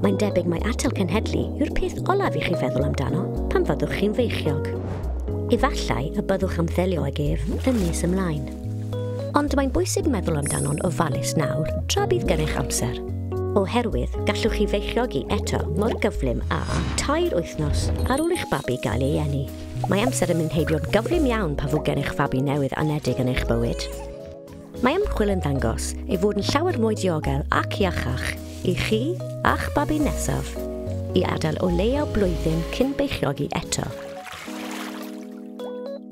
Mae'n debyg mai atal cenhedlu yw'r peth olaf i chi feddwl amdano pan fyddwch chi'n feichiog. Efallai y byddwch am ddelio ag ef yn nes ymlaen. Ond mae'n bwysig meddwl amdano'n ofalus nawr tra bydd gennych amser. Oherwydd, gallwch chi feichiogi eto mor gyflym â tair wythnos ar ôl i'ch babi gael ei eni. Mae amser yn mynd heibio'n gyflym iawn pan fo gennych fabi newydd anedig yn eich bywyd. Mae ymchwil yn dangos ei fod yn llawer mwy diogel ac iachach i chi a'ch babi nesaf i adael o leiaf blwyddyn cyn beichiogi eto.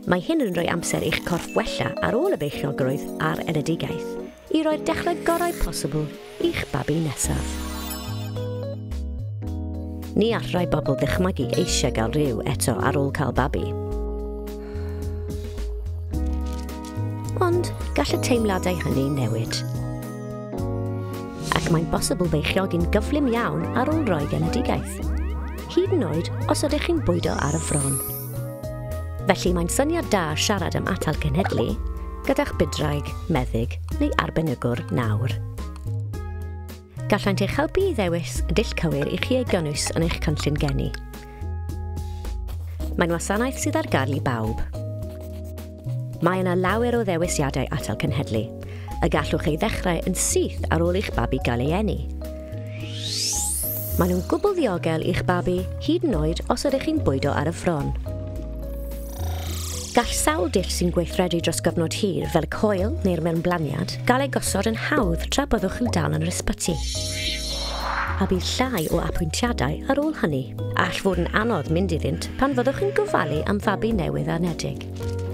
Mae hyn yn rhoi amser i'ch corff wella ar ôl y beichiogrwydd a'r enedigaeth i roi'r dechrau gorau posibl i'ch babi nesaf. Ni all rai bobl ddychmygu eisiau gael rhyw eto ar ôl cael babi. Ond gall y teimladau hynny newid. Ac mae'n bosibl feichiogi'n gyflym iawn ar ôl roi genedigaeth. Hyd yn oed os ydych chi'n bwydo ar y ffron. Felly mae'n syniad da siarad am atal cenhedlu gyda'ch budraig, meddyg neu arbenigwr nawr. Gallant eich helpu i ddewis y dull cywir i chi ei gynnwys yn eich cynllun geni. Mae'n wasanaeth sydd ar gael i bawb. Mae yna lawer o ddewisiadau atal cenhedlu, y gallwch ei ddechrau yn syth ar ôl i'ch babi gael ei eni. Maen nhw'n gwbl ddiogel i'ch babi, hyd yn oed os ydych chi'n bwydo ar y ffron. Gall sawl dull sy'n gweithredu dros gyfnod hir, fel y coel neu'r mewnblaniad, gael ei gosod yn hawdd tra byddwch yn dal yn yr ysbyty. A bydd llai o apwyntiadau ar ôl hynny. All fod yn anodd mynd iddynt pan fyddwch yn gofalu am fabi newydd anedig.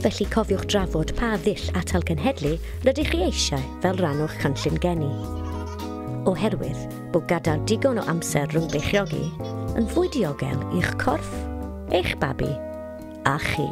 Felly cofiwch drafod pa ddull atal cenhedlu rydych chi eisiau fel rhan o'ch cynllun geni. Oherwydd bod gadael digon o amser rhwng beichiogi yn fwy diogel i'ch corff, eich babi a chi.